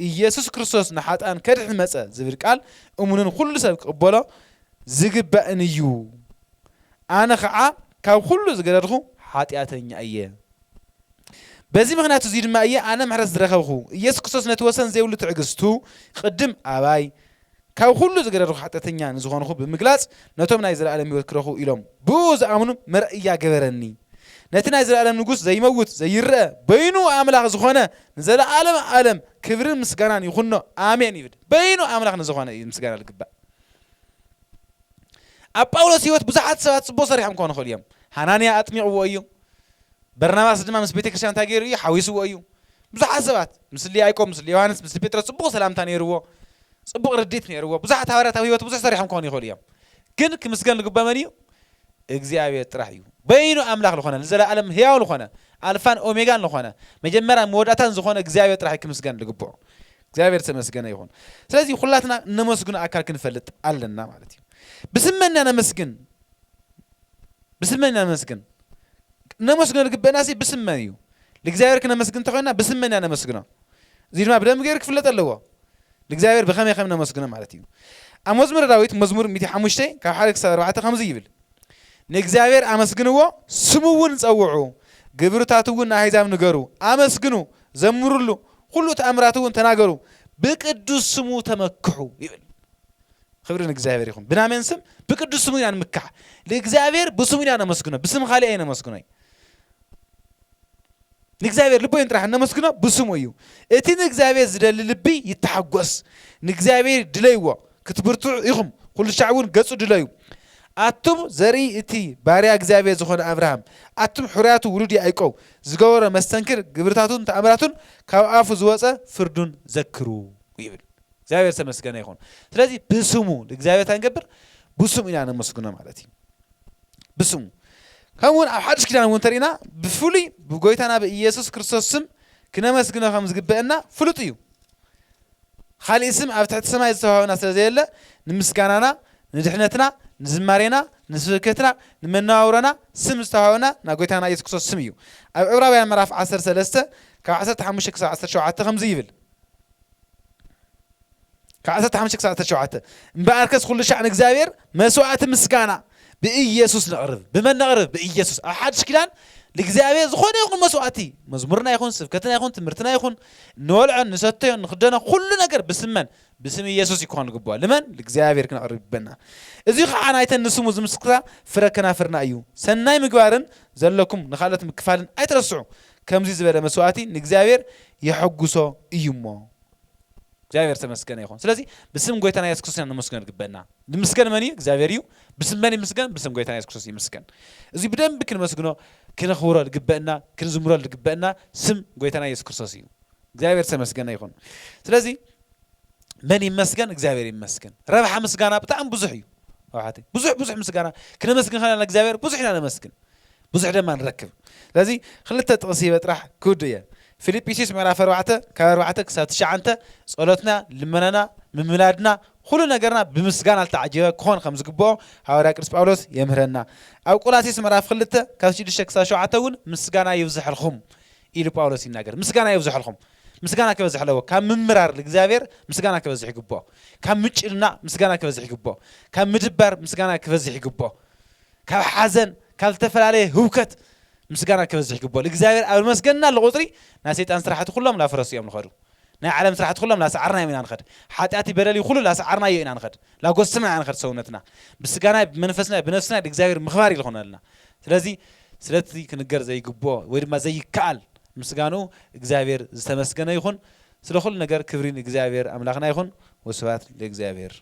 ኢየሱስ ክርስቶስ ንሓጥኣን ከድሕን መጸ ዝብል ቃል እሙንን ኹሉ ሰብ ክቕበሎ ዝግባእን እዩ። ኣነ ኸዓ ካብ ዅሉ ዝገደድኹ ሓጢኣተኛ እየ። በዚ ምኽንያት እዙይ ድማ እየ ኣነ ምሕረት ዝረኸብኹ። ኢየሱስ ክርስቶስ ነቲ ወሰን ዘይብሉ ትዕግስቱ ቕድም ኣባይ ካብ ዅሉ ዝገደድኹ ሓጢኣተኛ ንዝኾንኹ ብምግላፅ ነቶም ናይ ዘለኣለም ህይወት ክረኽቡ ኢሎም ብእኡ ዝኣምኑ መርኣያ ገበረኒ። ነቲ ናይ ዘለኣለም ንጉስ ዘይመውት ዘይረኣ በይኑ ኣምላኽ ዝኾነ ንዘለኣለም ኣለም ክብርን ምስጋናን ይኹኖ ኣሜን ይብል። በይኑ ኣምላኽ ንዝኾነ እዩ ምስጋና ልግባእ። ኣብ ጳውሎስ ህይወት ብዙሓት ሰባት ጽቡቕ ሰሪሖም ክኾኑ ይኽእሉ እዮም። ሃናንያ ኣጥሚቕዎ እዩ። በርናባስ ድማ ምስ ቤተ ክርስቲያን እንታይ ገይሩ እዩ? ሓዊስዎ እዩ። ብዙሓት ሰባት ምስሊ ያዕቆብ፣ ምስሊ ዮሃንስ፣ ምስሊ ጴጥሮስ ጽቡቕ ሰላምታ ነይርዎ፣ ጽቡቕ ርድኢት ነይርዎ። ብዙሓት ሃዋርያት ኣብ ህይወት ብዙሕ ሰሪሖም ክኾኑ ይኽእሉ እዮም። ግን ክምስገን ዝግብኦ መን እዩ? እግዚኣብሔር ጥራሕ እዩ። በይኑ ኣምላኽ ዝኾነ፣ ንዘለኣለም ህያው ዝኾነ፣ ኣልፋን ኦሜጋን ዝኾነ፣ መጀመርያን መወዳእታን ዝኾነ እግዚኣብሔር ጥራሕ እዩ ክምስገን ዝግብኦ። እግዚኣብሔር ዝተመስገነ ይኹን። ስለዚ ኩላትና እነመስግኖ ኣካል ክንፈልጥ ኣለና ማለት እዩ። ብስመን ኢና ነመስግን ብስመን ኢና ነመስግን እነመስግኖ ዝግበአና ሲ ብስመን እዩ። ንእግዚኣብሔር ክነመስግን እንተኾይና ብስመን ኢና ነመስግኖ። እዚ ድማ ብደንብ ገይሩ ክፍለጥ ኣለዎ። ንእግዚኣብሔር ብኸመይ ከም ነመስግኖ ማለት እዩ። ኣብ መዝሙረ ዳዊት መዝሙር 105 ካብ ሓደ ክሳብ ኣርባዕተ ከምዚ ይብል ንእግዚኣብሔር ኣመስግንዎ ስሙውን ጸውዑ ግብርታቱውን ንኣሕዛብ ንገሩ ኣመስግኑ ዘምሩሉ ኵሉ ተኣምራቱውን ተናገሩ ብቅዱስ ስሙ ተመክሑ ይብል ክብሪ ንእግዚኣብሔር ይኹን ብናመን ስም ብቅዱስ ስሙ ኢና ንምካሕ ንእግዚኣብሔር ብስሙ ኢና ነመስግኖ ብስም ካልእ ኣይነመስግኖይ ንእግዚኣብሔር ልቦይን ጥራሕ እነመስግኖ ብስሙ እዩ። እቲ ንእግዚኣብሔር ዝደሊ ልቢ ይተሓጎስ። ንእግዚኣብሔር ድለይዎ፣ ክትብርትዑ ኢኹም፣ ኵሉሻዕ እውን ገጹ ድለዩ። ኣቱም ዘርኢ እቲ ባርያ እግዚኣብሔር ዝኾነ ኣብርሃም፣ ኣቱም ሕሩያቱ ውሉድ ያእቆብ፣ ዝገበሮ መስተንክር ግብርታቱን ተኣምራቱን ካብ ኣፉ ዝወጸ ፍርዱን ዘክሩ ይብል። እግዚኣብሔር ዝተመስገነ ይኹን። ስለዚ ብስሙ ንእግዚኣብሔር እንታይ ንገብር? ብስሙ ኢና ነመስግኖ ማለት እዩ። ብስሙ ከምኡ እውን ኣብ ሓድሽ ኪዳን እውን እንተሪእና ብፍሉይ ብጎይታና ብኢየሱስ ክርስቶስ ስም ክነመስግኖ ከም ዝግበአና ፍሉጥ እዩ ካሊእ ስም ኣብ ትሕቲ ሰማይ ዝተዋህበና ስለ ዘየለ ንምስጋናና ንድሕነትና ንዝማሬና ንስብከትና ንመነባብሮና ስም ዝተዋህበና ናብ ጎይታና ኢየሱስ ክርስቶስ ስም እዩ ኣብ ዕብራውያን ምዕራፍ 13 ካብ 15 ክሳብ 17 ከምዚ ይብል ካብ ዓሰርተ ሓሙሽተ ክሳብ ዓሰርተ ሸውዓተ እምበኣርከስ ኵሉ ሻዕ ንእግዚኣብሔር መስዋዕቲ ምስጋና ብኢየሱስ ነቕርብ። ብመን ነቕርብ? ብኢየሱስ። ኣብ ሓድሽ ኪዳን ንእግዚኣብሔር ዝኾነ ይኹን መስዋዕቲ፣ መዝሙርና ይኹን፣ ስብከትና ይኹን፣ ትምህርትና ይኹን፣ እንበልዖን ንሰተዮን ንኽደኖ ኵሉ ነገር ብስም መን? ብስም ኢየሱስ እዩ ክኾን ዝግብኦ። ንመን? ንእግዚኣብሔር ክነቕርብ ይግበና። እዙይ ኸዓ ናይተን ንስሙ ዝምስክራ ፍረ ከናፍርና እዩ። ሰናይ ምግባርን ዘለኩም ንኻልኦት ምክፋልን ኣይትረስዑ። ከምዙይ ዝበለ መስዋዕቲ ንእግዚኣብሔር የሐጕሶ እዩ እሞ። እግዚኣብሔር ተመስገነ ይኹን። ስለዚህ ብስም ጎይታና ኢየሱስ ክርስቶስ ንምስገን ዝግበና ንምስገን መን እዩ? እግዚኣብሔር እዩ። ብስም መን ይምስገን? ብስም ጎይታና ኢየሱስ ክርስቶስ ይምስገን። እዚ ብደንብ ክንመስግኖ ክነኽብሮ ዝግበእና ክንዝምሮ ዝግበእና ስም ጎይታና ኢየሱስ ክርስቶስ እዩ። እግዚኣብሔር ተመስገነ ይኹን። ስለዚ መን ይመስገን? እግዚኣብሔር ይመስገን። ረብሓ ምስጋና ብጣዕሚ ብዙሕ እዩ። ኣውሓተይ ብዙሕ ብዙሕ ምስጋና ክነመስግን ከለና እግዚኣብሔር ብዙሕ ኢና ነመስግን። ብዙሕ ደማ ንረክብ ስለዚ ክልተ ጥቅሲ ሂበ ጥራሕ ክውድእ እየ ፊሊጲሲዩስ ምዕራፍ ኣርባዕተ ካብ ኣርባዕተ ክሳብ ትሽዓንተ ጸሎትና ልመናና ምምላድና ኩሉ ነገርና ብምስጋና ዝተዓጀበ ክኾን ከም ዝግብኦ ሃዋርያ ቅዱስ ጳውሎስ የምህረና ኣብ ቆላሲስ ምዕራፍ ክልተ ካብ ሽዱሽተ ክሳብ ሸውዓተ እውን ምስጋና ይብዝሐልኩም ኢሉ ጳውሎስ ይናገር ምስጋና ይብዝሐልኩም ምስጋና ክበዝሕ ኣለዎ ካብ ምምራር ንእግዚኣብሔር ምስጋና ክበዝሕ ይግብኦ ካብ ምጭንናቅ ምስጋና ክበዝሕ ይግብኦ ካብ ምድባር ምስጋና ክበዝሕ ይግብኦ ካብ ሓዘን ካብ ዝተፈላለየ ህውከት ምስጋና ክበዝሕ ይግብኦ ልእግዚኣብሔር ኣብ ልመስገንናሉ ቁጽሪ ናይ ሰይጣን ስራሕቲ ኩሎም ላፍረሱ እዮም ልኸዱ ናይ ዓለም ስራሕቲ ኩሎም ላሰዓርናዮም ኢና ንኸድ ሓጢኣትይ በደልይ ኩሉ ላሰዓርናዮ ኢና ንኸድ ላጎሰምና ኢና ንኸድ ሰውነትና ብስጋናይ ብመንፈስናይ ብነፍስናይ ልእግዚኣብሔር ምኽባር እዩ ልኾነልና ስለዚ ስለቲ ክንገር ዘይግብኦ ወይ ድማ ዘይከኣል ምስጋንኡ እግዚኣብሔር ዝተመስገነ ይኹን ስለ ኩሉ ነገር ክብሪ ንእግዚኣብሔር ኣምላኽና ይኹን ወስብሃት ልእግዚኣብሔር።